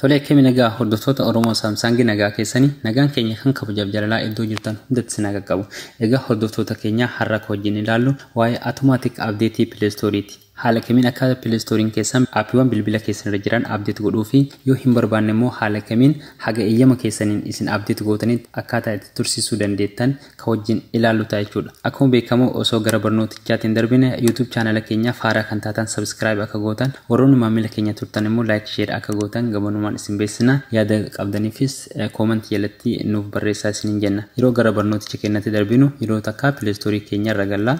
Tolee akkami nagaa hordoftoota Oromoo Saamsaangii nagaa keessanii nagaan keenya kan kabajaaf jalalaa iddoo jirtan hundatti sinaa qaqqabu. Egaa hordoftoota keenyaa har'a akka wajjin ilaallu waa'ee Automatic Update Play Store ti. Haala kamiin akka play store'n keessan aappiiwwan bilbila keessan irra jiran update godhuu fi yoo hin barbaanne immoo haala kamiin haga eeyyama keessaniin isin update gootanitti akkaataa itti tursiisuu dandeettan ka wajjin ilaallu ta'a jechuu dha. Akkuma beekamu osoo gara barnootichaatti hin darbine youtube channel keenyaaf haaraa kan taatan subscribe akka gootan warroonni maammila keenya turtan immoo like share akka gootan gamanumaan isin beeksisna. Yaada qabdaniifis comment jalatti nuuf barreessaa isiniin jenna. Yeroo gara barnooticha keenyatti darbinu yeroo takka play store keenya irra galla.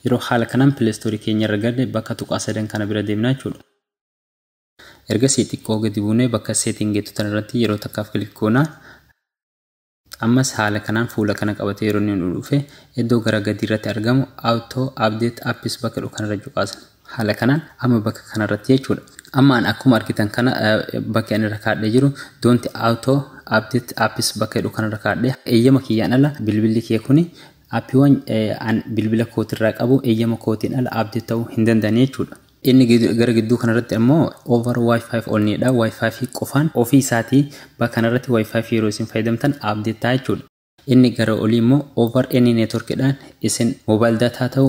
Yeroo haala kanaan pileestoorii keenyarra galle bakka tuqaa sadan kana bira deemna jechuudha. Ergasii xiqqoo gadi buunee bakka setting jettu tanarratti yeroo takkaaf click goona. Ammas haala kanaan fuula kana qabatee yeroo inni nu dhufe iddoo gara gadiirratti argamu auto update apps bakka jedhu kanarra cuqaasna. Haala kanaan amma bakka kanarratti jechuudha. Amma an akkuma argitan kana bakki ani irra kaadhee jiru don't auto update apps bakka jedhu kanarra kaadhee eeyyama kiyyaan ala bilbilli kiyya kuni Appiiwwan an bilbila kootirraa qabu eeyyama kootiin ala update ta'uu hin danda'anii jechuudha. Inni gara gidduu kanarratti ammoo over wifi only dha. Wifi qofaan ofii isaatii bakka kanarratti wifi yeroo isin fayyadamtan update ta'a jechuudha. Inni gara olii immoo over any network dhaan isin mobile data haa ta'u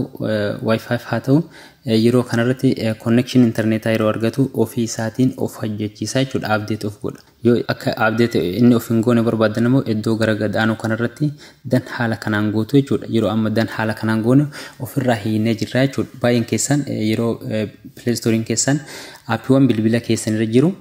wifi haa ta'u yeroo kanarratti connection internetaa yeroo argatu ofii isaatiin of hojjechiisa jechuudha update of godha. Yoo akka abdee ta'e inni of hin goone barbaaddan immoo iddoo gara gad aanuu kanarratti dan haala kanaan gootu jechuudha. Yeroo amma dan haala kanaan goone ofirraa hiinee jirra jechuudha. Baay'een keessan yeroo play store'n keessan aappiiwwan bilbila keessan irra jiru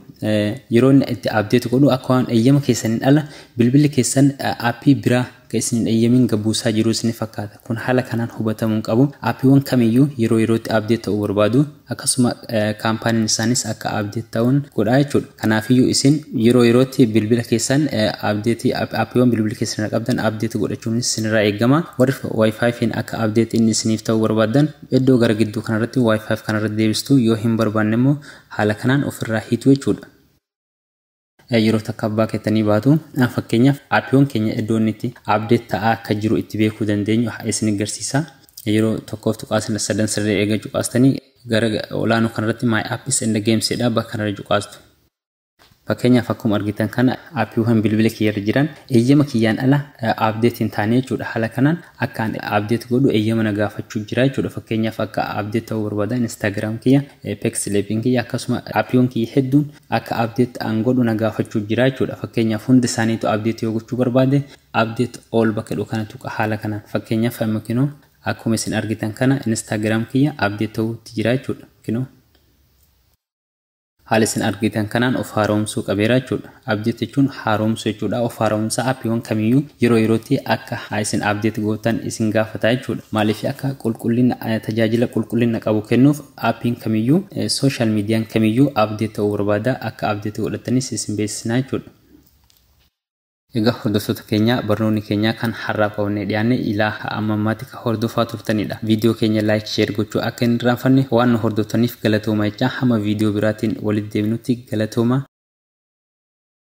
yeroo inni itti abdeetu godhu akka waan eeyyama keessaniin ala bilbilli keessan aappii biraa Akka isin hin eyyamiin gad buusaa jiru isinitti fakkaata. Kun haala kanaan hubatamuu hin qabu. Aappiiwwan kamiyyuu yeroo yerootti update ta'uu barbaadu. Akkasuma kaampaaniin isaaniis akka update ta'uun godhaa jechuudha. Kanaafiyyuu isin yeroo yerootti bilbila keessan update aappiiwwan bilbila keessan irra qabdan update godhachuunis isinirraa eegama. Warri wifi fiin akka update inni isiniif ta'uu barbaaddan iddoo gara gidduu kanarratti wifi kanarratti deebistu yoo hin barbaanne immoo haala kanaan ofirraa hiitu jechuudha. Yeroo takka abbaa keettanii baatu fakkeenyaaf appiiwwan keenya iddoo inni itti update ta'aa akka jiru itti beekuu dandeenyu isin garsiisa. Yeroo tokkoof tuqaa sadan sirrii eega cuqaastanii gara olaanoo kanarratti my apps and games jedha bakka kanarra cuqaastu. Fakkeenyaaf akkuma argitan kana appiiwwan bilbila kiyyarra jiran eeyyama kiyyaan ala update hin taane jechuudha. Haala kanaan akka ani update godhu eeyyama na gaafachuu jira jechuudha. Fakkeenyaaf akka update ta'uu barbaada Instagram kiyya, Pexlabin kiyya akkasuma appiiwwan kiyya hedduun akka update an godhu na gaafachuu jira jechuudha fakkeenyaaf hundi isaaniitu update yoo gochuu barbaade update all bakka jedhu kana tuqa haala kanaan fakkeenyaaf amma kinoo akkuma isin argitan kana instagram kiyya update ta'uutti jira jechuudha kinoo haala isin argitan kanaan of haaromsuu qabeera jechuudha update jechuun haaromsuu jechuudha of haaromsaa appiiwwan kamiyyuu yeroo yerootti akka isin update gootan isin gaafata jechuudha maaliif akka qulqullina tajaajila qulqullina qabu kennuuf Appiin kamiyyuu, social median kamiyyuu update ta'uu barbaada. Akka update godhattanis isin beeksisna jechuudha. Egaa hordoftoota keenya barnoonni keenya kan har'aaf qabannee dhiyaanne ilaa amma ammaatti kan hordofaa turtanidha. Video keenya like share gochuu akka hin irraanfanne waan nu hordoftaniif galatoomaa jechaa hamma video biraatiin walitti deebinutti galatoomaa.